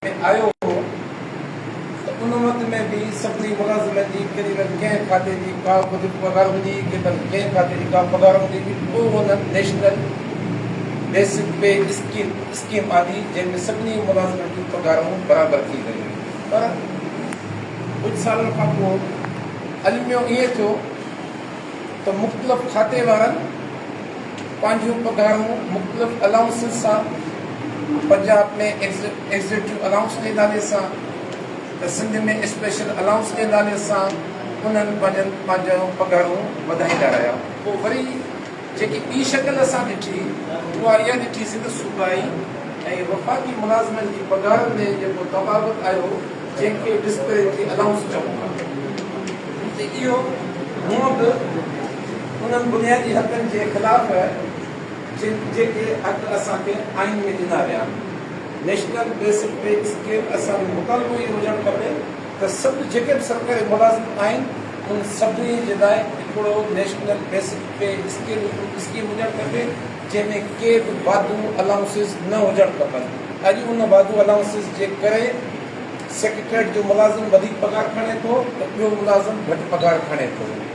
۾ آيو هو ته ان وقت ۾ به سڀني ملازمن جي ڪيڏي نه ڪنهن کاتي جي ڪا وڌيڪ پگهار هوندي هئي ڪيڏن ڪنهن کاتي جي ڪا پگهار هوندي هئي پوء هن national basic pay scheme scheme آندي جنهن ۾ سڀني ملازمن جون پگهارون برابر ٿي ويون پر ڪجهه سالن کان پوء الميو ائين ٿيو ته مختلف کاتي وارن پنهنجون پگهارون مختلف الائونسز سان پنجاب ۾ ايگزيڪٽو الائونس جي نالي سان ته سنڌ ۾ اسپيشل الائونس جي نالي سان انهن پنهنجن پنهنجون پگهارون وڌائيندا رهيا. پوء وري جيڪي ٻي شڪل اسان ڏٺي اها اها ڏٺيسي ته صوبائي ۽ وفاقي ملازمن جي پگهارن ۾ جيڪو تفاوت آيو جنهن کي ڊسپيرٽي الائونس چئون ٿا ته اهو هونئن به انهن بنيادي حقن جي خلاف جن جيڪي حق اسان کي آئين ۾ ڏنا ويا آهن. نيشنل بيسڪ پي اسڪيل اسان جو مطالبو اهو هجڻ کپي ته سڀ جيڪي به سرڪاري ملازم آهن ان سڀني جي لاء هڪڙو national basic pay scale scheme هجڻ کپي جنهن ۾ ڪي به واڌو الائونسز نه هجڻ کپن اڄ ان واڌو الائونسز جي ڪري سيڪريٽريٽ جو ملازم وڌيڪ پگهار کڻي ٿو ته ٻيو ملازم گهٽ پگهار کڻي ٿو.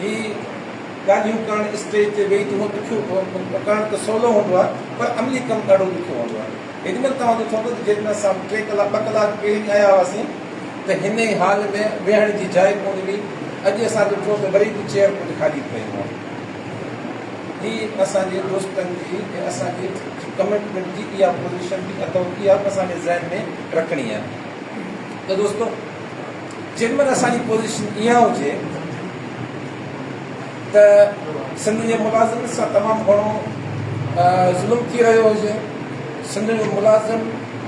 هي ڳالهيون ڪرڻ اسٽيج تي ويهي تنهن ڏکيو ڪرڻ ته سولو هوندو آهي پر عملي ڪم ڏاڍو ڏکيو هوندو آهي هيڏي مهل توهان جو ٿئندو ته جيڪڏهن اسان ٽي ڪلاڪ ٻه ڪلاڪ پهرين آيا هئاسين ته هن ئي هال ۾ ويهڻ جي جاء ڪونه هئي اڄ اسان ڏٺو ته وري به چيئر ڪجهه خالي پيون آهن هي اسان جي دوستن جي ۽ اسان جي ڪمٽمينٽ جي اها پوزيشن به اٿو اها به اسان کي ذهن ۾ رکڻي آهي ته دوستو جنهن مهل اسان جي پوزيشن اها هجي ته سنڌ جي ملازمن سان تمام گهڻو ظلم ٿي رهيو هجي، سنڌ جو ملازم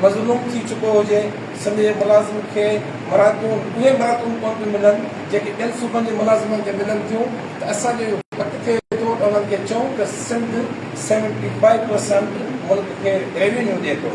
مظلوم ٿي چڪو هجي، سنڌ جي ملازم کي مراعتون اهي مراعتون ڪونه پيون ملن جيڪي ٻين صوبن جي ملازمن کي ملن ٿيون ته اسان جو اهو حق ٿئي ٿو ته انهن کي چئون ته سنڌ سيونٽي فائيو پرسنٽ ملڪ کي ريونيو ڏئي ٿو.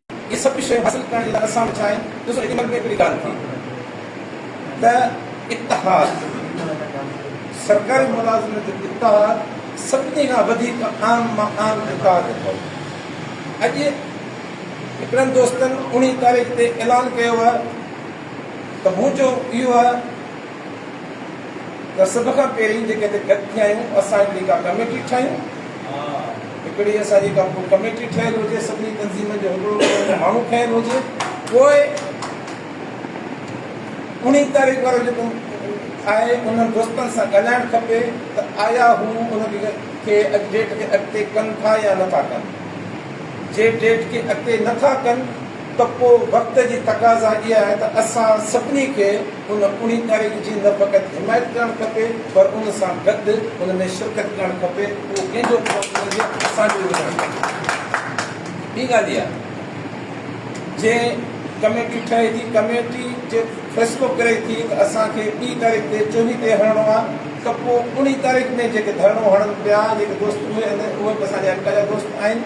اهي سڀ به شيون حاصل ڪرڻ جي لاء اسان وٽ ڇا آهن؟ ڏسو ايڏي مھل ۾ هڪڙي ڳالهه ٿي ته اتحاد سرڪاري ملازمن جو اتحاد سڀني کان وڌيڪ عام مان عام اتحاد اٿئي. اڄ هڪڙن دوستن اوڻيهه تاريخ تي اعلان ڪيو آهي ته منهنجو اهو آهي ته سڀ کان پهرين جيڪي هتي گڏ ٿيا آهيون، اسان هڪڙي ڪا ڪميٽي ٺاهيون. هڪڙي اسان جي ڪا ڪو ڪميٽي ٺهيل هجي، سڀني تنظيمن جو هڪڙو هڪڙو ان ۾ ماڻهو کڻيل هجي، پوء انهي تاريخ وارو جيڪو آهي، انهن دوستن سان ڳالهائڻ کپي ته آيا هو ان کي اڄ ڊيٽ کي اڳتي ڪن ٿا يا نٿا ڪن. جي ڊيٽ کي اڳتي نٿا ڪن، ته پوء وقت جي تقاضا اها آهي ته اسان سڀني کي ان اڻي تحريڪ جي نه فقط حمايت ڪرڻ کپي پر ان سان گڏ ان ۾ شرڪت ڪرڻ کپي اهو ڪنهن جو به ڪم نه هجي اسان جو ئي هجڻ کپي. ٻي ڳالهه اها جي ڪميٽي ٺهي ٿي ڪميٽي جي فيصلو ڪري ٿي ته اسان کي ٻي تاريخ تي چوني تي هڻڻو آهي ته پوء اڻي تاريخ ۾ جيڪي ڌرڻو هڻن پيا جيڪي دوست اهي اهي به اسان جا اڳ جا دوست آهن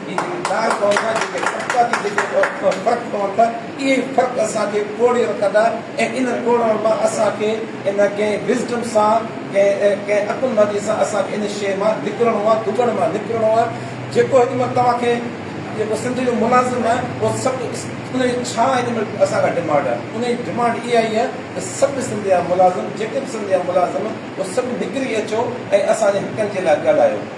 جي جيڪي داغ پوندا، جيڪي ٽپڪا ٿي جيڪي فرق پون ٿا، اهي فرق اسان کي ٽوڙي رکندا ۽ ان ٽوڙڻ مان اسان کي ان ڪنهن Wisdom سان ڪنهن ڪنهن عقل مندي سان اسان کي ان شيء مان نڪرڻو آهي، دٻڻ مان نڪرڻو آهي، جيڪو هن مهل توهان کي جيڪو سنڌ جو ملازم آهي اهو سڀ ان جي ڇا هن مهل اسان کان ڊمانڊ آهي، ان جي ڊمانڊ اها ئي آهي ته سڀ سنڌ جا ملازم جيڪي به سنڌ جا ملازم اهو سڀ نڪري اچو ۽ اسان جي حقن جي لاء ڳالهايو.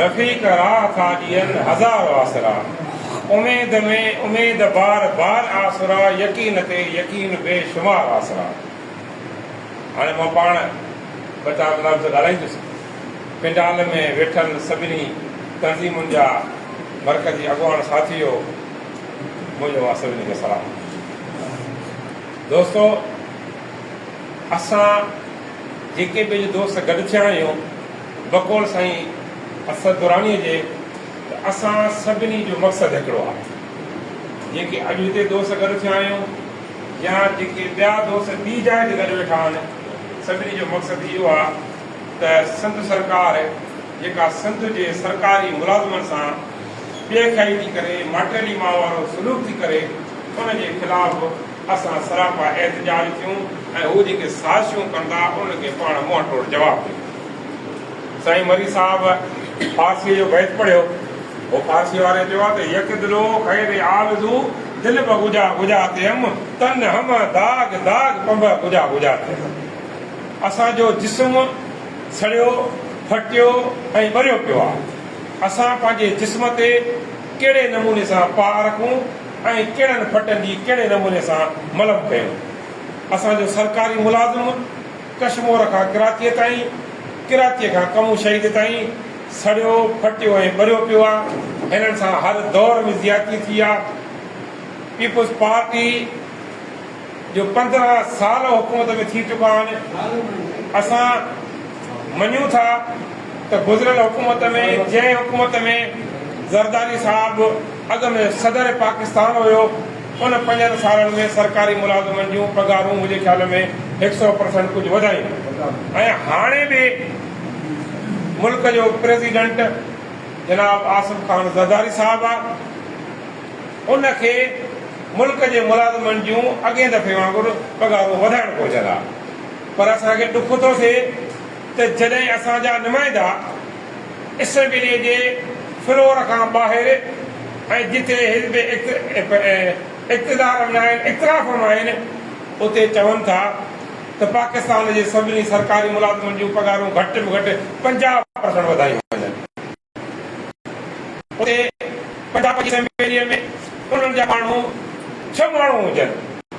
رفيق راهه ٿا ڏين هزار آسرا. اميد ۾ اميد بار بار آسرا يقين تي يقين بي شمار آسرا. هاڻي مان پاڻ ٻه چار لفظ ڳالهائيندس. پنڊال ۾ ويٺل سڀني تنظيمن جا مرڪزي اڳواڻ ساٿيو منهنجو اوهان سڀني کي سلام. دوستو اسان جيڪي به اڄ دوست گڏ ٿيا آهيون. بقول سائين اسد درانيء جي ته اسان سڀني جو مقصد هڪڙو آهي. جيڪي اڄ هتي دوست گڏ ٿيا آهيون يا جيڪي ٻيا دوست ٻي جاء تي گڏ ويٺا آهن، سڀني جو مقصد اهو آهي ته سنڌ سرڪار جيڪا سنڌ جي سرڪاري ملازمن سان بي خئي ٿي ڪري، ماٽيلي ماء وارو سلوڪ ٿي ڪري، ان جي خلاف اسان سراپا احتجاج ٿيون ۽ هو جيڪي سازشون ڪندا، انهن کي پاڻ منهن ٽوڙ جواب ڏيون. سائين مري صاحب فارسيء جو بيت پڙهيو هو. فارسيء واري چيو ته يڪ دلو خير آرزو دل به گجا گجا تيم تن همه داغ داغ پنبه گجا گجا تيم اسان جو جسم سڙيو ڦٽيو ۽ ٻريو پيو آهي اسان پنهنجي جسم تي ڪهڙي نموني سان پاء رکون ۽ ڪهڙن ڦٽن جي ڪهڙي نموني سان ملم ڪيون اسان جو سرڪاري ملازم ڪشمور کان ڪراتيء تائين، ڪراتيء کان ڪمون شهيد تائين سڙيو، ڦٽيو ۽ ٻريو پيو آ، هنن سان هر دور ۾ زيادتي ٿي آ، پيپلز پارٽي جو پندرهن سال حڪومت ۾ ٿي چڪا آهن، اسان مڃون ٿا ته گذريل حڪومت ۾ جنهن حڪومت ۾ زرداري صاحب اڳ ۾ صدر پاڪستان هيو، ان پنجن سالن ۾ سرڪاري ملازمن جون پگهارون منهنجي خيال ۾ هڪ سئو پرسنٽ ڪجهه وڌايون ۽ هاڻي به ملڪ جو پريزيڊنٽ جناب آصف خان زرداري صاحب آ ان کي ملڪ جي ملازمن جون اڳين دفعي وانگر پگهارون وڌائڻ گهرجن ها پر اسان کي ڏک ٿو ٿئي ته جڏهن اسان جا نمائندا اسيمبليء جي فلور کان ٻاهر ۽ جتي حزب اقتدار ۾ آهن اطراف ۾ آهن اتي چون ٿا ته پاڪستان جي سڀني سرڪاري ملازمن جون پگهارون گهٽ ۾ گهٽ پنجاهه پرسنٽ وڌايون وڃن اتي پنجاب جي اسيمبليء ۾ انهن جا ماڻهو ڇهه ماڻهو هجن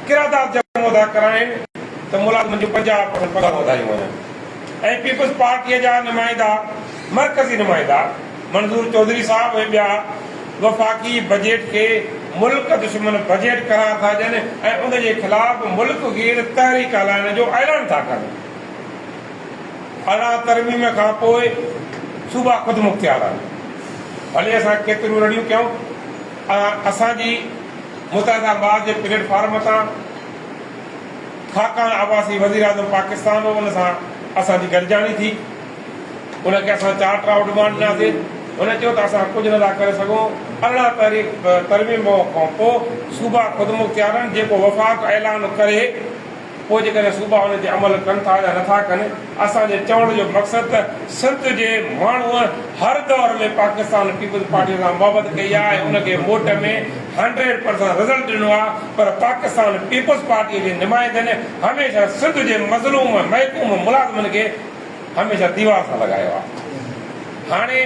قرارداد جمعو ادا ڪرائين ته ملازمن جون پنجاهه پرسنٽ پگهارون وڌايون وڃن. ۽ پيپلز پارٽيء جا نمائندا مرڪزي نمائندا منظور چوڌري صاحب ۽ ٻيا وفاقي بجيٽ کي ملڪ دشمن بجيٽ قرار ٿا ڏين ۽ ان جي خلاف ملڪ گير تحريڪ هلائڻ جو اعلان ٿا ڪن. ارڙهن ترميم کان پوء صوبا خودمختيار آهن ڀلي اسان ڪيتريون رڙيون ڪيون اها اسان جي متحده ماض جي پليٽ فارم تان ڇاڪاڻ عباسي وزيراعظم پاڪستان هو ان سان اسان جي گڏجاڻي ٿي، ان کي اسان چارٽر آف ڊمانڊ ڏناسي، هن چيو ته اسان ڪجهه نه ٿا ڪري سگهون، ارڙهن تحريڪ ترميم کان پوء صوبا خودمختيارن جيڪو وفاق اعلان ڪري پوء جيڪڏهن صوبا ان تي عمل ڪن ٿا يا نه ٿا ڪن، اسان جي چوڻ جو مقصد ته سنڌ جي ماڻهوء هر دور ۾ پاڪستان پيپلز پارٽيء سان محبت ڪئي آهي ۽ ان کي ووٽ ۾ هنڊريڊ پرسنٽ رزلٽ ڏنو آهي پر پاڪستان پيپلز پارٽيء جي نمائندن هميشه سنڌ جي مظلوم محڪوم ملازمن کي هميشه ديوار سان لڳايو آهي هاڻي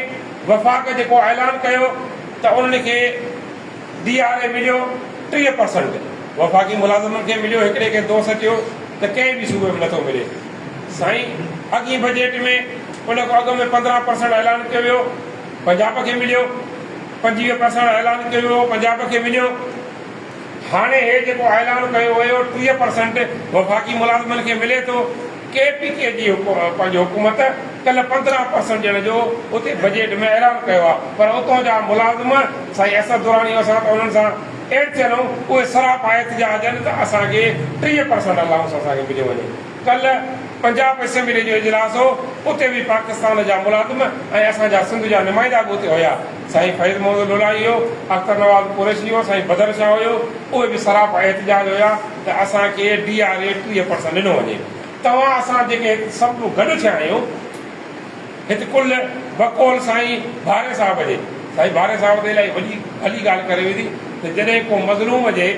وفاق جيڪو اعلان ڪيو ته انهن کي ڊي آر اي مليو ٽيهه پرسنٽ، وفاقي ملازمن کي مليو هڪڙي کي دوست چيو ته ڪنهن به صوبي ۾ نٿو ملي سائين اڳئين بجيٽ ۾ ان کان اڳ ۾ پندرهن پرسنٽ اعلان ڪيو ويو پنجاب کي مليو پنجويهه پرسنٽ اعلان ڪيو ويو پنجاب کي مليو هاڻي هي جيڪو اعلان ڪيو ويو ٽيهه پرسنٽ وفاقي ملازمن کي ملي ٿو. ڪي پي ڪي جي پنهنجي حڪومت ڪلهه پندرهن پرسنٽ ڏيڻ جو اتي بجيٽ ۾ اعلان ڪيو آهي پر اتان جا ملازم سائين اسد دراني اسان ته انهن سان ايڊ ٿيل آهيون اهي سراپا احتجاج ڏين ته اسان کي ٽيهه پرسنٽ الائونس اسان کي مليو وڃي ڪلهه پنجاب اسيمبلي جو اجلاس هو اتي به پاڪستان جا ملازم ۽ اسان جا سنڌ جا نمائندا به اتي هيا سائين فيض محمد لولاڻي هيو اختر نواز قريشي هيو سائين بدر شاهه هيو اهي به سراپا احتجاج هيا. ته اسان کي ڊي آر اي ٽيهه پرسنٽ ڏنو وڃي. توهان اسان جيڪي هت سڀ ڪو گڏ ٿيا آهيون هت ڪل بقول سائين ڀاري صاحب جي سائين ڀاري صاحب ته الائي وڏي ڀلي ڳالهه ڪري ويندي ته جڏهن ڪو مظلوم جي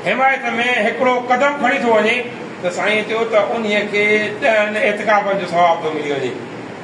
حمايت ۾ هڪڙو قدم کڻي ٿو وڃي ته سائين چيو ته انهي کي ڏهن اعتڪافن جو ثواب ٿو ملي وڃي.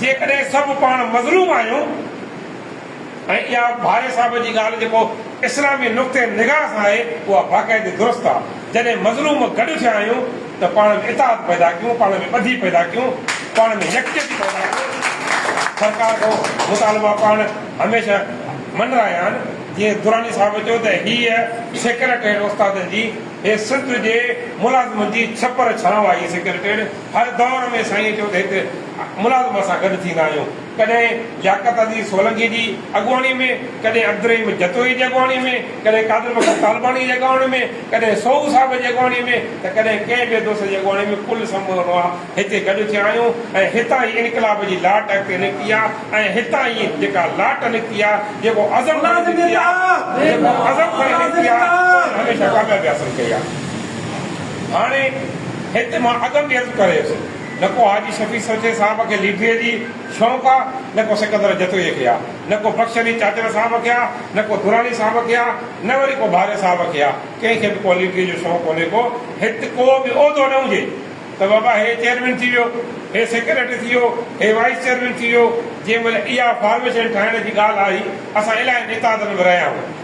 جيڪڏهن سڀ پاڻ مظلوم آهيون ۽ اها ڀاري صاحب جي ڳالهه جيڪو اسلامي نقطه نگاهه سان آهي اها باقاعدي درست آ جڏهن مظلوم گڏ ٿيا آهيون ته پاڻ ۾ اتحاد پيدا ڪيون پاڻ ۾ ٻڌي پيدا ڪيون پاڻ ۾ يڪجهتي پيدا ڪيون سرڪار کان مطالبا پاڻ هميشه من رهيا آهن جيئن دراني صاحب چيو ته هيء سيڪريٽريٽ استادن جي هيء سنڌ جي ملازمن جي ڇپر ڇانو آ هيء سيڪريٽريٽ هر دور ۾ سائينء چيو ته هڪ ملازم سان گڏ ٿيندا آهيون، ڪڏهن لياقت عزيز سولنگي جي اڳواڻي ۾، ڪڏهن عبدالرحيم جتوئي جي اڳواڻي ۾، ڪڏهن قادر بخش طالباڻي جي اڳواڻي ۾، ڪڏهن سوهو صاحب جي اڳواڻي ۾، ته ڪڏهن ڪنهن ٻئي دوست جي اڳواڻي ۾ ڪل سمورن اوهان هتي گڏ ٿيا آهيون ۽ هتان ئي انقلاب جي لاٽ اڳتي نڪتي آ ۽ هتان ئي جيڪا لاٽ نڪتي آ، جيڪو عزم کڻي نڪتي آ، جيڪو عزم کڻي نڪتي آ، ان هميشه ڪاميابي حاصل ڪئي آ. هاڻي هت مان اڳ ۾ عرض ڪري ويس، نه ڪو حاجي شفيع سرجي صاحب کي ليڊريء جي شوق آ، نه ڪو سڪندر جتوئيء کي آ، نه ڪو بخش علي چاچڙ صاحب کي آ، نه ڪو دراني صاحب کي آ، نه وري ڪو ڀاري صاحب کي آ، ڪنهن کي به ڪو ليڊريء جو شوق ڪونهي ڪو هت ڪو به عهدو نه هجي ته بابا هي چيئرمين ٿي ويو، هي سيڪريٽري ٿي ويو، هي وائيس چيئرمين ٿي ويو، جنهن مهل اها فارميشن ٺاهڻ جي ڳالهه آئي، اسان الاهين اتحادن ۾ رهيا آهيون.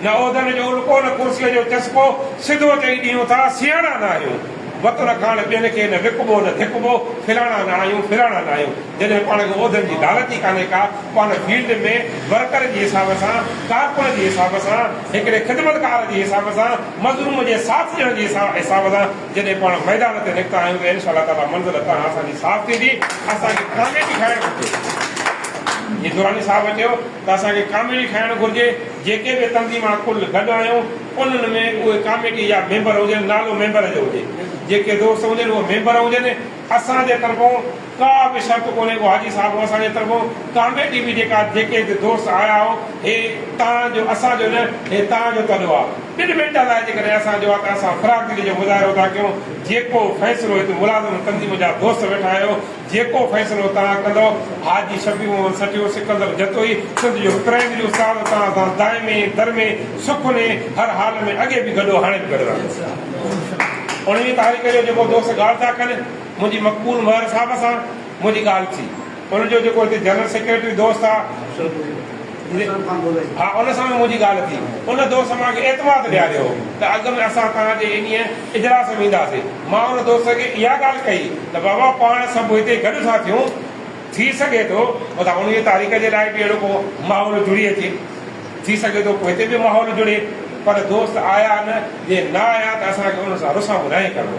نه عهدن جو الڪو نه ڪرسيء جو چسڪو، سڌو چئي ڏيون ٿا سياڻا نه آهيون. وطن کان ٻين کي نه وڪبو نه ڌڪبو، ڦلاڻا نه آهيون ڦلاڻا نه آهيون. جڏهن پاڻ کي عهدن جي لالچ ئي ڪانهي ڪا، پاڻ فيلڊ ۾ ورڪر جي حساب سان، ڪارڪن جي حساب سان، هڪڙي خدمتگار جي حساب سان، مظلوم جي ساٿ ڏيڻ جي حساب سان جڏهن پاڻ ميدان تي نڪتا آهيون ته انشاء الله تعاليٰ منزل هتان کان اسان جي صاف ٿيندي، اسان کي ڪاميابي کائڻ گهرجي. جيئن دراني صاحب چيو. ته اسان کي ڪاميٽي ٺاهڻ گهرجي، جيڪي به تنظيمان ڪل گڏ آيون انهن ۾ اهي ڪاميٽي جا ميمبر هجن نالو ميمبر جو هجي جيڪي دوست هجن اهي ميمبر هجن اسان جي طرفون ڪا به شرط ڪونهي ڪو حاجي صاحب اسان جي طرفون ڪاميٽي به جيڪا جيڪي به دوست آيا هو هي تان جو اسان جو نه هي تان جو تڏو آ ٻن منٽن لاء جيڪڏهن اسان جو آ ته اسان فراخ دلي جو مظاهرو ٿا ڪيون جيڪو فيصلو هت ملازم تنظيم جا دوست ويٺا آهيو جيڪو فيصلو توهان ڪندؤ. حاجي شفيع محمد سٺيو، سڪندر جتوئي، سنڌ جو هڪرائيندي جو استاد توهان سان دائمي درمي سک وني هر حال ۾ اڳي به گڏ هو هاڻي به گڏ رهندو. اڻويهين تاريخ جو جيڪو دوست ڳالهه ٿا ڪن منهنجي مقبول مهر صاحب سان منهنجي ڳالهه ٿي ان جو جيڪو هتي جنرل سيڪريٽري دوست آ. ها ان سان به منهنجي ڳالهه ٿي. ان دوست مان کي اعتماد ڏياريو هو ته اڳ ۾ اسان توهان جي انهيء اجلاس ۾ وينداسين. مان ان دوست کي اها ڳالهه ڪئي ته بابا پاڻ سڀ هتي گڏ ٿا ٿيون، ٿي سگهي ٿو متان انهيء تاريخ جي لاء به اهڙو ڪو ماحول جڙي اچي. ٿي سگهي ٿو پوء هتي به ماحول جڙي. پر دوست آيا نه، جي نه آيا ته اسان کي انهن سان رسامون ناهي ڪرڻو.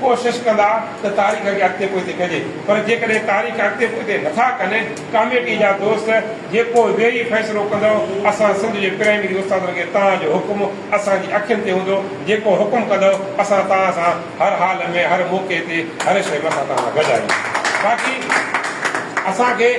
ڪوشش ڪندا ته تاريخ کي اڳتي پوئتي ڪجي پر جيڪڏهن تاريخ اڳتي پوئتي نٿا ڪن ڪاميٽي جا دوست جيڪو ويهي فيصلو ڪندو اسان سنڌ جي پرائمري استادن کي توهان جو حڪم اسان جي اکين تي هوندو جيڪو حڪم ڪندو اسان توهان سان هر حال ۾ هر موقعي تي هر شيء ۾ اسان توهان سان گڏ آهيون باقي اسان کي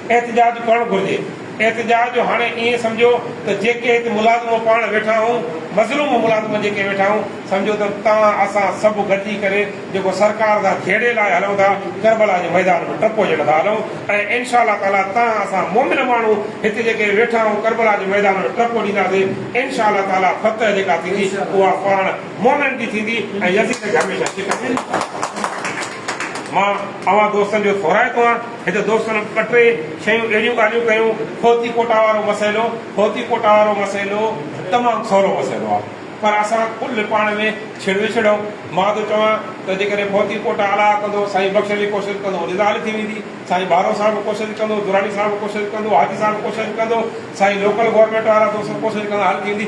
احتجاج ڪرڻ گهرجي. احتجاج جو هاڻي ائين سمجهو ته جيڪي هت ملازمون پاڻ ويٺا آهون، مظلوم ملازم جيڪي ويٺا آهون، سمجهو ته توهان اسان سڀ گڏجي ڪري جيڪو سرڪار سان جهيڙي لاء هلون ٿا، ڪربلا جي ميدان ۾ ٽپ هجڻ ٿا هلون ۽ انشاء الله تعاليٰ توهان اسان مؤمن ماڻهو هت جيڪي ويٺا آهون ڪربلا جي ميدان ۾ ٽپ ڏينداسين انشاء الله تعاليٰ فتح جيڪا ٿيندي اها پاڻ مؤمنن جي ٿيندي ۽ يزيد کي هميشه شڪست ملي. مان اوهان دوستن جو ٿورائتو آهيان. هتي دوستن ٻه ٽي شيون اهڙيون ڳالهيون ڪيون، هوتي ڪوٽا وارو مسئلو، هوتي ڪوٽا وارو مسئلو تمام سولو مسئلو آهي پر اسان ڪل پاڻ ۾ ڇڙ وڇڙ آهيون، مان ٿو چوان ته جيڪڏهن هوتي ڪوٽا الاها ڪندو، سائين بخش علي ڪوشش ڪندو رضا حل ٿي ويندي، سائين ڀارو صاحب ڪوشش ڪندو، دراني صاحب ڪوشش ڪندو، حاجي صاحب ڪوشش ڪندو، سائين لوڪل گورنمينٽ وارا دوست ڪوشش ڪندا حل ٿي ويندي.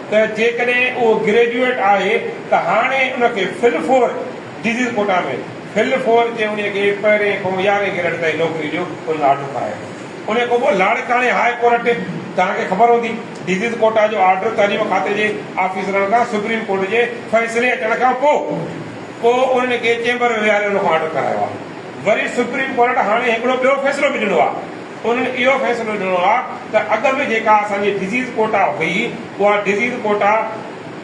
ته جيڪڏهن اهو گريجوئيٽ آهي ته هاڻي ان کي full four disease quota ۾ full four جي انهي کي پهرين کان يارهين گريڊ تائين نوڪري جو ان آرڊر ٺاهي آيو انهي کان پوء لاڙڪاڻي هاء ڪورٽ توهان کي خبر هوندي ڊزيز ڪوٽا جو آرڊر تعليم کاتي جي آفيسرن کان سپريم ڪورٽ جي فيصلي اچڻ کان پوء پوء انهن کي چيمبر ۾ ويهاري ان کان آرڊر ڪرايو آهي وري سپريم ڪورٽ هاڻي هڪڙو ٻيو فيصلو به ڏنو آهي. انهن اهو فيصلو ڏنو آهي ته اڳ ۾ جيڪا اسان جي ڊزيز ڪوٽا هئي اها ڊزيز ڪوٽا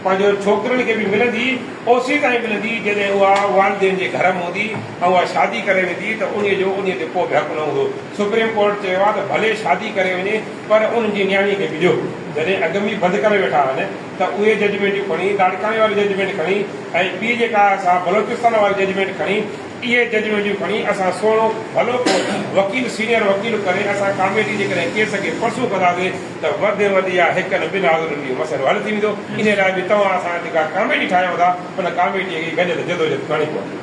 پنهنجو ڇوڪرين کي به ملندي اوسيء تائين ملندي جڏهن اها والدين جي گهر ۾ هوندي ۽ اها شادي ڪري ويندي ته انهيء جو انهيء تي ڪو به حق نه هوندو سپريم ڪورٽ چيو آهي ته ڀلي شادي ڪري وڃي پر انهن جي نياڻي کي به ڏيو. جڏهن اڳ ۾ بند ڪري ويٺا آهن ته اهي ججمينٽيون کڻي لاڙڪاڻي واري ججمينٽ کڻي ۽ ٻي جيڪا سا بلوچستان واري ججمينٽ کڻي. اهي ججمينٽيون کڻي اسان سهڻو ڀلو ڪو وڪيل سينئر وڪيل ڪري اسان ڪاميٽي جيڪڏهن ڪيس کي پرسو ڪنداسين ته وڌ ۾ وڌ يا هڪ نه ٻن آزادين جو مسئلو حل ٿي ويندو انهي لاء به توهان اسان جي جيڪا ڪاميٽي ٺاهيو ٿا ان ڪاميٽي کي گڏيل جدوجهد ڪرڻي پوندي.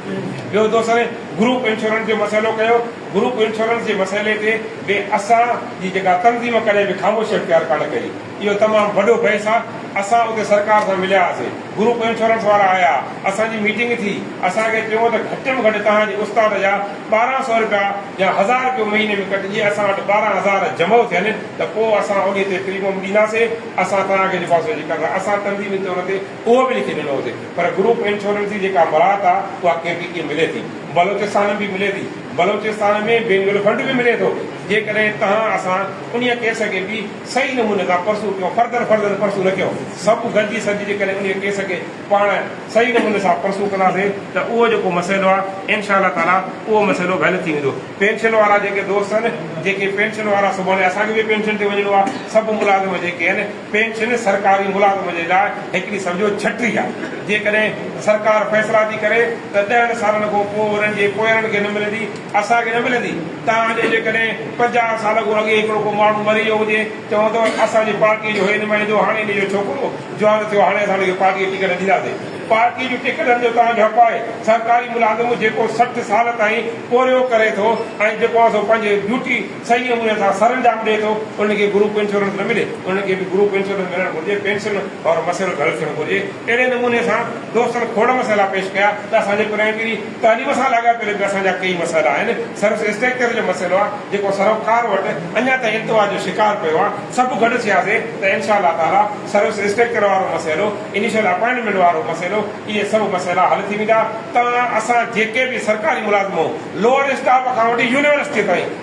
ٻيو دوستن گروپ انشورنس جو مسئلو ڪيو گروپ انشورنس جي مسئلي تي به اسان جي جيڪا تنظيم ڪڏهن به خاموشي اختيار ڪانه ڪئي. اهو تمام وڏو بحث آ، اسان اتي سرڪار سان مليا هئاسين، گروپ انشورنس وارا آيا، اسان جي ميٽنگ ٿي، اسان کي چيو ته گهٽ ۾ گهٽ توهان جي استاد جا ٻارهن سئو رپيا يا هزار رپيو مهيني ۾ ڪٽ، جي اسان وٽ ٻارهن هزار جمع ٿين ته پوء اسان انهي تي پريمم ڏينداسين، اسان توهان کي لفافي جي قرض اسان تنظيمي طور تي اهو به لکي ڏنو هوسين پر گروپ انشورنس جي جيڪا مراعت آ اها ڪي پي ڪي ملي ٿي، بلوچستان ۾ به ملي ٿي، بلوچستان ۾ بينگل فنڊ به ملي ٿو، جيڪڏهن توهان اسان انهي ڪيس کي به. صحيح نموني سان پرسو ڪيو، فردن فردن پرسو نه ڪيو، سڀ گڏجي سڏجي جيڪڏهن انهي ڪيس کي پاڻ صحيح نموني سان پرسو ڪنداسين ته اهو جيڪو مسئلو آهي انشاء الله تعاليٰ اهو مسئلو حل ٿي ويندو، پينشن وارا جيڪي دوست آهن جيڪي پينشن وارا سڀاڻي اسان کي به پينشن تي وڃڻو آهي، سڀ ملازم جيڪي آهن پينشن سرڪاري ملازم جي لاء هڪڙي سمجهو ڇٽري آهي، جيڪڏهن سرڪار فيصلا ٿي ڪري ته ڏهن سالن کان پوء انهن جي پوئرن کي نه ملندي، اسان کي نه ملندي تان جو جيڪڏهن پنجاهه سال کان اڳي هڪڙو ڪو ماڻهو مري ويو هجي چوندو اسان جي پارٽي جو هي نمائندو هاڻي ان جو ڇوڪرو جوان ٿيو هاڻي اسان ان کي پارٽي جي ٽڪيٽ ڏينداسي پارٽي جون ٽڪيٽن جو تان جو حق آهي سرڪاري ملازم جيڪو سٺ سال تائين پورهيو ڪري ٿو ۽ جيڪو آهي سو پنهنجي ڊيوٽي صحيح نموني سان سرانجام ڏئي ٿو ان کي گروپ انشورنس نه ملي ان کي به گروپ انشورنس ملڻ گهرجي پينشن وارو مسئلو به حل ٿيڻ گهرجي اهڙي نموني سان دوستن کوڙ مسئلا پيش ڪيا ته اسان جي پرينڪري تعليم سان لاڳاپيل به اسان جا ڪيئي مسئلا آهن، سروس اسٽرڪچر جو مسئلو آهي جيڪو سروڪار وٽ اڃا تائين التوا جو شڪار پيو آهي، سڀ گڏ ٿياسي ته انشاء الله تعاليٰ سروس اسٽرڪچر وارو مسئلو، انيشل اپائنٽمينٽ وارو مسئلو اهي سڀ مسئلا حل ٿي ويندا ته اسان جيڪي به سرڪاري ملازمون لوئر اسٽاف کان وٺي يونيورسٽي تائين.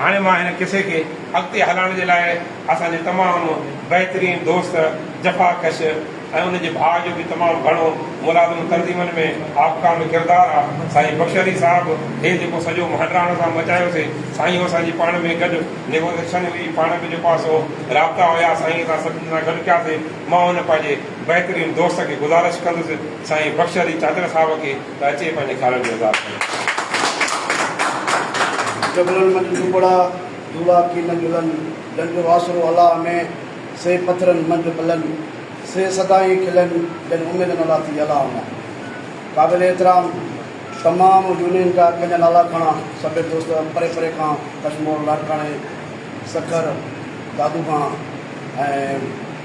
هاڻي مان هن قصي کي اڳتي هلائڻ جي لاء اسان جي تمام بهترين دوست جفا ڪش ۽ ان جي ڀاء جو به تمام گهڻو ملازم تنظيمن ۾ آبقا ۾ ڪردار آ سائين بخش علي صاحب هي جيڪو سڄو مهنڊراڻ سان مچايو سي سائين هو اسان جي پاڻ ۾ گڏ نيگوزيشن هئي پاڻ ۾ جيڪو آ سو رابطا هيا سائين اسان سڀني سان گڏ ڪياسي مان هن پنهنجي بهترين دوست کي گذارش ڪندس سائين بخش علي چانڊيل صاحب کي ته اچي پنهنجي کارن جو اظهار ڪري. جبلن منجھ ڊوٻڙا دوڙا ڪي نه جلن، جن جو آسرو الله ۾، سي پٿرن منجھ پلن، سي سدائين کلن، جن اميد نه لاٿي الله مان. قابل احترام تمام يونين جا ڪن جا نالا کڻا سڀيئي دوست پري پري کان ڪشمور لاڙڪاڻي سکر دادو خان ۽.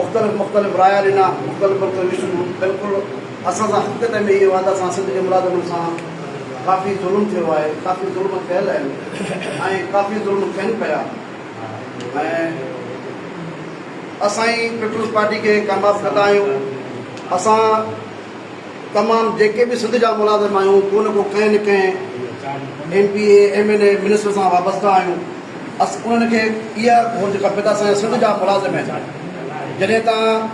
مختلف مختلف رايا ڏنا، مختلف مختلف ويشن هن بلڪل اسان سان حقيقت ۾ اهي وعدا سان سنڌ جي ملازمن سان ڪافي ظلم ٿيو آهي، ڪافي ظلم ٿيل آهن ۽ ڪافي ظلم ٿين پيا ۽ اسان ئي پيپلز پارٽي کي ڪامياب ڪندا آهيون، اسان. تمام جيڪي به سنڌ جا ملازم آهيون ڪو نه ڪو ڪنهن نه ڪنهن M P A M N A minister سان وابسته آهيون بس انهن کي اها گهرج کپي ته اسان جا سنڌ جا ملازم آهن جڏهن تان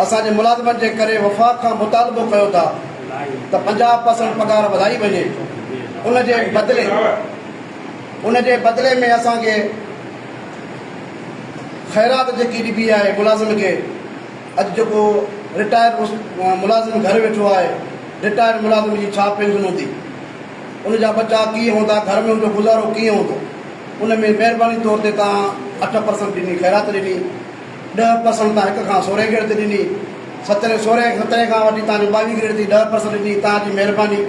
اسان جي ملازمن جي ڪري وفاق کان مطالبو ڪيو ٿا ته پنجاهه پرسنٽ پگهار وڌائي وڃي ان جي بدلي ان جي بدلي ۾ اسان کي خيرات جيڪي ڏبي آهي ملازم کي اڄ جيڪو رٽائرڊ ملازم گهر ويٺو آهي، رٽائرڊ ملازم جي ڇا پينشن هوندي؟ ان جا ٻچا ڪيئن هوندا؟ گهر ۾ ان جو گذارو ڪيئن هوندو؟ ان ۾ مهرباني طور تي توهان اٺ پرسنٽ ڏني خيرات ڏني، ڏهه پرسنٽ توهان هڪ کان سورهين گريڊ تي ڏني، سترهين سورهين سترهين کان وٺي توهان جو ٻاويهين گريڊ تائين ڏهه پرسنٽ ڏني، توهان جي مهرباني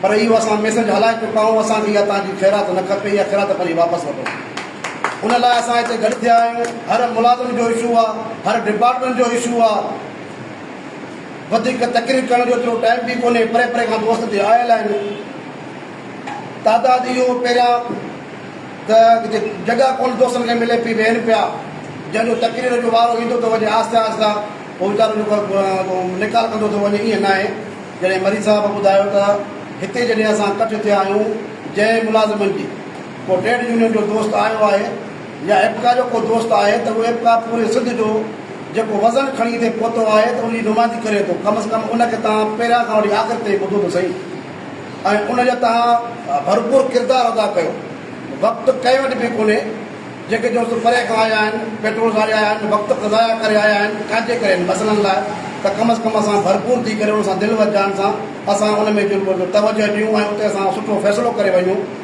پر اهو اسان ميسيج هلائي چڪا آهيون، اسان کي اها توهان جي خيرات نه کپي، اها خيرات پنهنجي واپس وٺو. ان لاء اسان هتي گڏ ٿيا آهيون، هر ملازم جو اشو آ، هر ڊپارٽمينٽ جو اشو آ، وڌيڪ تقرير ڪرڻ جو ايترو ٽائيم به ڪونهي، پري پري کان دوست هتي آيل آهن، تعداد اهو پهريان ته جڳهه ڪونه دوستن کي ملي پئي، ويهن پيا، جنهن جو تقرير جو وارو ايندو ٿو وڃي، آهستي آهستي اهو ويچارو جيڪو نيڪال ڪندو ٿو وڃي، ائين ناهي، جڏهن مريض صاحب ٻڌايو ته هتي جڏهن اسان ڪٺ ٿيا آهيون جنهن ملازمن جي. ڪو ٽريڊ يونين جو دوست آيو آهي يا ايپڪا جو ڪو دوست آهي ته اهو ايپڪا پوري سنڌ جو جيڪو وزن کڻي اتي پهتو آهي ته ان جي نمائندي ڪري ٿو ڪم از ڪم ان کي تهان پهريان کان وٺي آخر تائين ٻڌو ته سهي ۽ ان جو تهان ڀرپور ڪردار ادا ڪيو وقت ڪنهن وٽ به ڪونهي جيڪي دوست پري کان آيا آهن پيٽرول ساڙي آيا آهن وقت ضايع ڪري آيا آهن ڇاجي ڪري ان مسئلن لاء ته ڪم از ڪم اسان ڀرپور ٿي ڪري ان سان دل و جان سان اسان ان ۾ توجه ڏيون ۽ اتي اسان سٺو فيصلو ڪري وڃون.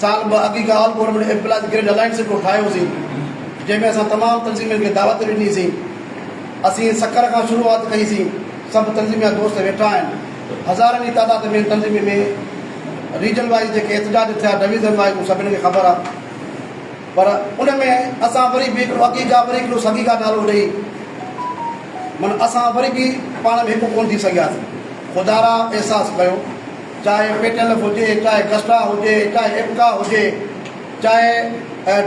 سال ٻه اڳ ئي هڪ all government employees grade alliance report ٺاهيو سين جنهن ۾ اسان تمام تنظيمين کي دعوت ڏني سين اسين سکر کان شروعات ڪئي سين سڀ تنظيميا دوست ويٺا آهن هزارن جي تعداد ۾ تنظيمين ۾ ريجن وائيز جيڪي احتجاج ٿيا ڊويزن وائيز هو سڀني کي خبر آهي پر ان ۾ اسان وري به هڪڙو اڳي کان وري هڪڙو سڳي کان نالو ڏئي من اسان وري به پاڻ ۾ هڪ ڪون ٿي سگهياسين خدارا احساس ڪيو چاهي پيٽلف هجي، چاهي گسٽا هجي، چاهي اپڪا هجي، چاهي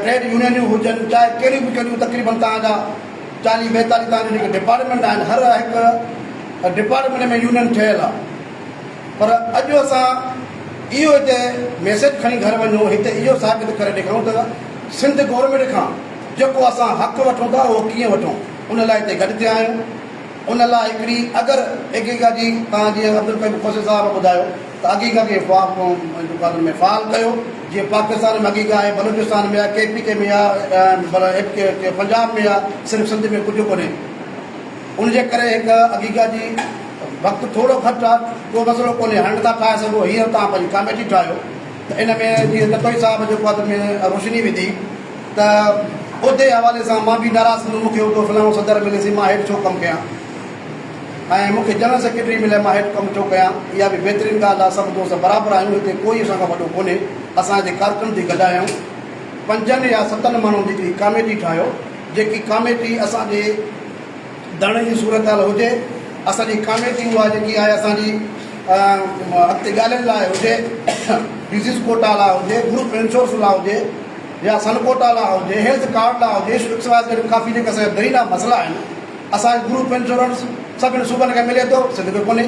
ٽريڊ يونينيون هجن، چاهي ڪهڙيون به ڪهڙيون تقريبن توهان جا چاليهه ٻيتاليهه توهان جون جيڪي ڊپارٽمينٽ آهن هر هڪ ڊپارٽمينٽ ۾ يونين ٺهيل آهي پر اڄ اسان اهو هتي ميسيج کڻي گهر وڃون هتي اهو ثابت ڪري ڏيکارون ته سنڌ گورنمينٽ کان جيڪو اسان حق وٺون ٿا اهو ڪيئن وٺون ان لاء هتي گڏ ٿيا آهيون. ان لاء هڪڙي اگر حقيقت جي تان جيئن عبدالقيوم کوسي صاحب ٻڌايو ته حقيقت کي فا قدر ۾ فعال ڪيو جيئن پاڪستان ۾ حقيقت آهي بلوچستان ۾ آهي ڪي پي ڪي ۾ آهي پنجاب ۾ آهي صرف سنڌ ۾ ڪجهه ڪونهي ان جي ڪري هڪ حقيقت جي وقت ٿورو گهٽ آهي ڪو مسئلو ڪونهي هنڊ ٿا ٺاهي سگهو هينئر تان پنهنجي ڪاميٽي ٺاهيو ان ۾ جيئن لکوئي صاحب جيڪو اڌ ۾ روشني وڌي ته عھدي حوالي سان مان به ناراض ٿيندس، مون کي عھدو فلاڻو صدر ملي سھي مان ھيٺ ڇو ڪم ڪيان ۽ مون کي جنرل سيڪريٽري ملي مان ھيٺ ڪم ڇو ڪيان، اھا به بھترين ڳالھه آھي، سڀ دوست برابر آھيون، ھتي ڪوئي اسان کان وڏو ڪونھي، اسان ھتي ڪارڪن ٿي گڏايائون، پنجن يا ستن ماڻھن جي ھڪڙي ڪاميٽي ٺاھيو، جيڪي ڪاميٽي اسان جي. ڌڻ جي صورتحال هجي اسان جي ڪاميٽي اها جيڪي آهي اسان جي اڳتي ڳالهين لاء هجي ڊزيز ڪوٽا لاء هجي گروپ انشورنس لاء هجي يا سن ڪوٽا لاء هجي هيلٿ ڪارڊ لاء هجي ايڪس واء زيڊ ڪافي جيڪا اسان جا درينا مسئلا آهن اسان جي گروپ انشورنس سڀني صوبن کي ملي ٿو سنڌ کي ڪونهي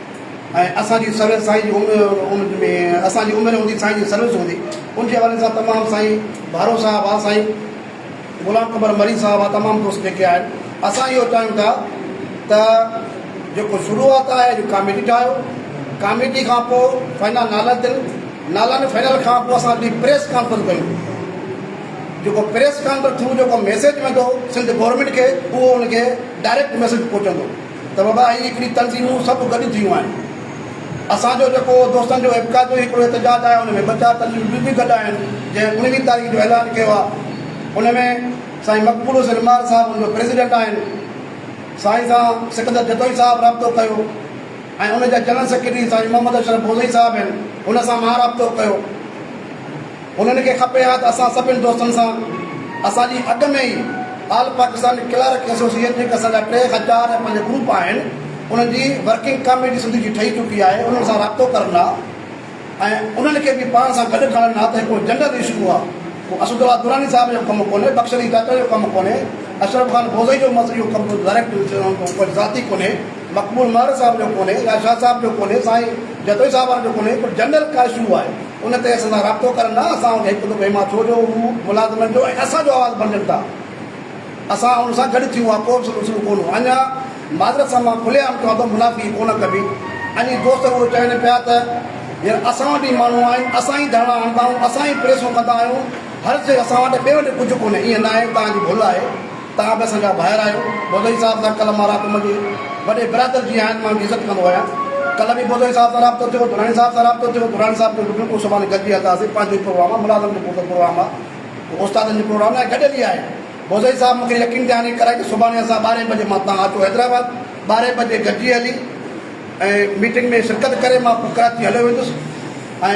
۽ اسان جي سروس سائين جي ان ۾ اسان جي اميد هوندي سائين جي سروس هوندي ان جي حوالي سان تمام سائين ڀارو صاحب آ سائين غلام قمر مري صاحب آ تمام دوست جيڪي آهن اسان اهو چاهيون ٿا ته جيڪو شروعات آهي جو ڪاميٽي ٺاهيو ڪاميٽي کان پوء فائنل نالا تن نالن فائنل کان پوء اسان جي پريس ڪانفرنس ڪيون جيڪو پريس ڪانفرنس ٿرو جيڪو ميسج ويندو سنڌ گورنمينٽ کي اهو ان کي ڊائريڪٽ ميسج پهچندو ته بابا هي هڪڙي تنظيمون سڀ گڏ ٿيون آهن. اسان جو جيڪو دوستن جو ايپڪا جو هڪڙو احتجاج آهي ان ۾ ٻه چار تنظيمون ٻيون به گڏ آهن جنهن اڻويهه تاريخ جو اعلان ڪيو آهي ان ۾ سائين مقبول حسين مار صاحب ان جو پريزيڊنٽ آهن سائين سان سڪندر جتوئي صاحب رابطو ڪيو ۽ ان جا جنرل سيڪريٽري سائين محمد اشرف بوزئي صاحب هن سان مان رابطو ڪيو. انهن کي کپي ها ته اسان سڀني دوستن سان اسان جي اڳ ۾ ئي آل پاڪستان ڪلارڪ ايسوسيئيشن جيڪي اسان جا ٽي هزار ۽ پنج گروپ آهن انهن جي ورڪنگ ڪاميٽي سنڌ جي ٺهي چڪي آهي انهن سان رابطو ڪرن ها ۽ انهن کي به پاڻ سان گڏ کڻن ها ته هڪڙو جنرل اشو آهي ڪو اسد الله دراني صاحب جو ڪم ڪونهي بخش علي چاچڙ جو ڪم ڪونهي اشرف خان بوزئي جو مسئلو اهو ڪم ڊائريڪٽ ذاتي ڪونهي مقبول مهر صاحب جو ڪونهي يا شاهه صاحب جو ڪونهي سائين جتوئي صاحب جو ڪونهي پر جنرل ڪا اشو آهي ان تي اسان سان رابطو ڪرن لاء اسان وٽ هڪ دٻو ايما ٿيو جو هو ملازمن جو ۽ اسان جو آواز بڻجن ٿا. اسان ان سان گڏ ٿيون اها ڪو به سلسلو ڪونه هو. اڃا معذرت سان مان کلي عام چوان ٿو منافقي ڪونه ڪبي. اڄ دوست اهو چون پيا ته هينئر اسان وٽ ئي ماڻهو آهن، اسان ئي ڌرڻا هڻندا آهيون، اسان ئي پريسون ڪندا آهيون، هر شيء اسان وٽ، ٻئي وٽ ڪجهه ڪونهي. ائين ناهي، توهان جي ڀل آهي. توهان به اسان جا ڀائر آهيو. بوزئي صاحب سان ڪلهه مان رابطو منهنجي وڏي برادر جيئن آهن، مان ان جي عزت ڪندو آهيان. ڪلهه به بوزئي صاحب سان رابطو ٿيو، دراني صاحب سان رابطو ٿيو، دراني صاحب چيو بلڪل پوء سڀاڻي گڏجي هلنداسين، پنهنجو ئي پروگرام آهي، ملازم جو ڪو ته پروگرام آهي، ڪو استادن جو پروگرام ناهي، گڏيل ئي آهي. بوزئي صاحب مون کي يقين دهاني ڪرائي ته سڀاڻي اسان ٻارهين بجي مان توهان اچو حيدرآباد، ٻارهين بجي گڏجي هلي ۽ ميٽنگ ۾ شرڪت ڪري مان پوء ڪراچي هليو ويندس ۽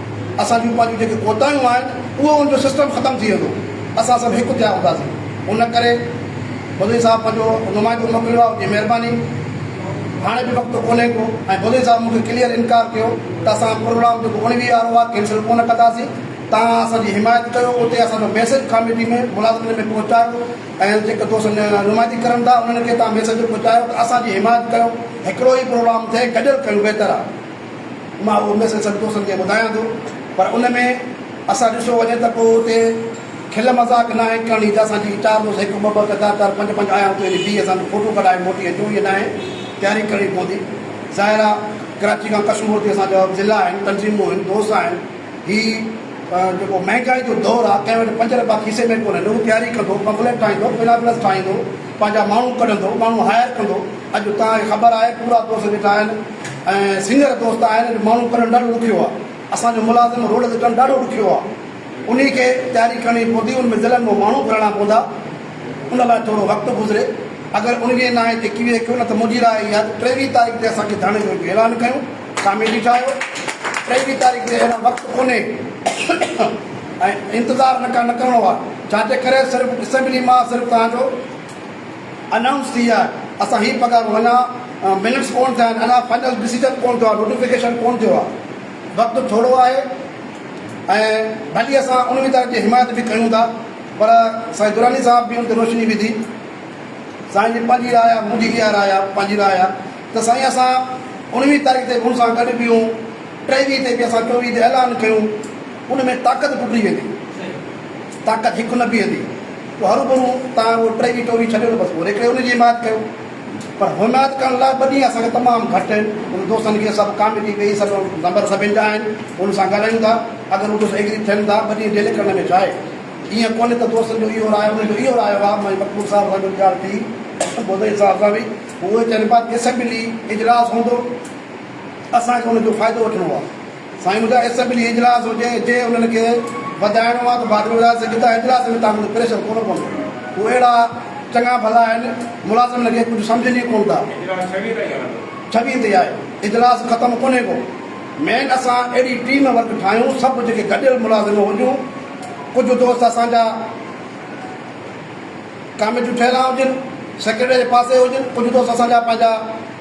اسان جون پنهنجون جيڪي ڪوتاهيون آهن اهو ان جو سسٽم ختم ٿي ويندو اسان سڀ هڪ ٿيا هونداسين ان ڪري بدوي صاحب پنهنجو نمائندو موڪليو آهي ان جي مهرباني هاڻي به وقت ڪونهي ڪو ۽ بدوي صاحب مون کي ڪليئر انڪار ڪيو ته اسان پروگرام جيڪو اڻويهه وارو آهي ڪينسل ڪونه ڪنداسين توهان اسان جي حمايت ڪيو اتي اسان جو ميسيج ڪاميٽي ۾ ملازمن ۾ پهچايو ۽ جيڪي دوست نمائندي ڪرن ٿا انهن کي توهان ميسيج پهچايو ته اسان جي حمايت ڪيو هڪڙو ئي پروگرام ٿئي گڏيل ڪيون بهتر آهي مان اهو ميسيج سڀ دوستن کي ٻڌايان ٿو پر ان ۾ اسان ڏسو وڃي ته ڪو اتي کل مذاق ناهي ڪرڻي ته اسان جي چار دوست هڪ ٻه ٻه ڪتا ڪر پنج پنج آيا اتي وڃي بيهي اسان کي فوٽو ڪڍائي موٽي اچو ائين ناهي تياري ڪرڻي پوندي ظاهر آهي ڪراچي کان ڪشمور تي اسان جا ضلع آهن تنظيمون آهن دوست آهن هي جيڪو مهنگائي جو دور آهي ڪنهن وٽ پنج رپيا کيسي ۾ ڪونهن نه هو تياري ڪندو پمفليٽ ٺاهيندو پلابلس ٺاهيندو پنهنجا ماڻهو ڪڍندو، ماڻهو هائير ڪندو، اڄ توهان کي خبر آهي پورا دوست ويٺا آهن ۽ سنگر دوست آهن اڄ ماڻهو ڪڍڻ ڏاڍو ڏکيو آهي، اسان جو ملازم روڊ تي ڪڍڻ ڏاڍو ڏکيو آهي، انهي کي تياري ڪرڻي پوندي، ان ۾ ضلعن مان ماڻهو گهرائڻا پوندا، ان لاء ٿورو وقت گذري، اگر انهي ناهي تي ڪيوي ڪيو نه ته منهنجي راء اها ته ٽيويهه تاريخ تي اسان کي ڌرڻي جو اعلان ڪيون، ڪاميٽي ٺاهيو، ٽيويهه تاريخ تي اهڙا وقت ڪونهي ۽ انتظار نه ڪرڻو آهي. جا جي ڪري صرف اسيمبلي مان صرف توهان جو انائونس ٿي ويو آهي اسان هي پگهار اڃا منٽس ڪون ٿيا آهن اڃا فائنل ڊسيجن ڪون ٿيو آهي نوٽيفڪيشن ڪون ٿيو آهي وقت ٿورو آهي ۽ ڀلي اسان اميدوار جي حمايت به ڪيون ٿا پر سائين دراني صاحب به ان تي روشني وڌي سائين جي پنهنجي راء آهي منهنجي اها راء آهي پنهنجي راء آهي ته سائين اسان انويهه تاريخ تي به ان سان گڏ بيهون ٽيويهه تي به اسان چوويهه تي اعلان ڪيون ان ۾ طاقت ٽٽي ويندي. طاقت هڪ نه بيهندي. پوء هروڀرو تان اهو ٽيوي ٽوري ڇڏيو ته بس پوء ريڪڙي ان جي حمايت ڪيو. پر حمايت ڪرڻ لاء ٻه ڏينهن اسان کي تمام گهٽ آهن. ان دوستن کي سڀ ڪاميٽي ڪئي سڀ نمبر سڀن جا آهن. انهن سان ڳالهايون ٿا. اگر هو دوست ايگري ٿين ٿا ٻه ڏينهن ڊيلي ڪرڻ ۾ ڇا آهي. ايئن ڪونهي ته دوستن جو اهو راء انهن جو اهو راء هئا. مائي مقبول صاحب سان گڏ ڳالهه ٿي. ڀوزڙي صاحب سان به. پوء اهي چون پيا ته اسيمبلي اجلاس هوندو. اسان کي ان جو فائدو وٺڻو آهي. سائين منهنجا اسيمبلي اجلاس هجي جي انهن کي وڌائڻو آ ته باجوو وڌائي سگهي ٿا اجلاس ۾ تهان منهنجو پريشر ڪونه پوندو هو اهڙا چڱا ڀلا آهن ملازم هن کي ڪجهه سمجهن ئي ڪونه ٿا. اجلاس ڇويهه تائين هلندو. ڇويهه تي آهي اجلاس ختم ڪونهي ڪو مين اسان اهڙي ٽيم ورڪ ٺاهيون سڀ جيڪي گڏيل ملازم هجون ڪجهه دوست اسان جا ڪاميٽيون ٺهيل آهن هجن سيڪريٽريٽ جي پاسي هجن ڪجهه دوست اسان جا پنهنجا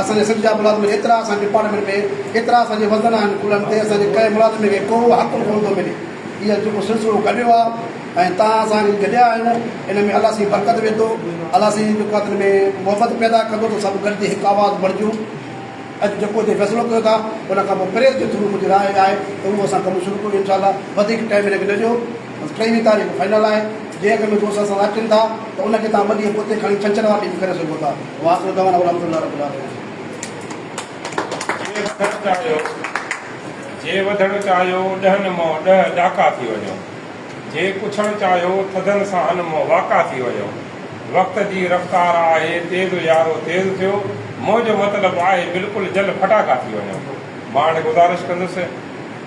اسان جا سنڌ جا ملازم ايترا اسان جي ڊپارٽمينٽ ۾ ايترا اسان جي وزن آهن ڪلهن تي اسان جي ڪنهن ملازم کي ڪو حق به ڪونه ٿو ملي هي جيڪو سلسلو گڏيو آهي ۽ تان اسان هي گڏيا آهيون ان ۾ الله سائين برڪت وڌو الله سائين جيڪو آهي تن ۾ محبت پيدا ڪندو ته سڀ گڏجي هڪ آواز بڻجون اڄ جيڪو هتي فيصلو ڪيو ٿا ان کان پوء پريس جي ٿرو منهنجي راء آهي ته اهو اسان ڪم شروع ڪريون انشاء الله وڌيڪ ٽائيم هن کي نه ڏيو ٽيويهين تاريخ فائنل آهي، جنهن اک ۾ دوست اسان سان اچن ٿا ته ان کي توهان ٻه ڏينهن پوئتي کڻي ڇنڇر واري ڏينهن به ڪري سگهو ٿا. وآخر دعوانا الحمد لله رب العالمين. جي وڌڻ چاهيو جي وڌڻ چاهيو ڏهن مئو ڏهه ڏاڪا ٿي وڃو جي پڇڻ چاهيو ٿڌن ساهن مئو واڪا ٿي وڃو وقت جي رفتار آهي تيز يارو تيز ٿيو منهنجو مطلب آهي بلڪل جل ڦٽاڪا ٿي وڃو مان هاڻي گذارش ڪندس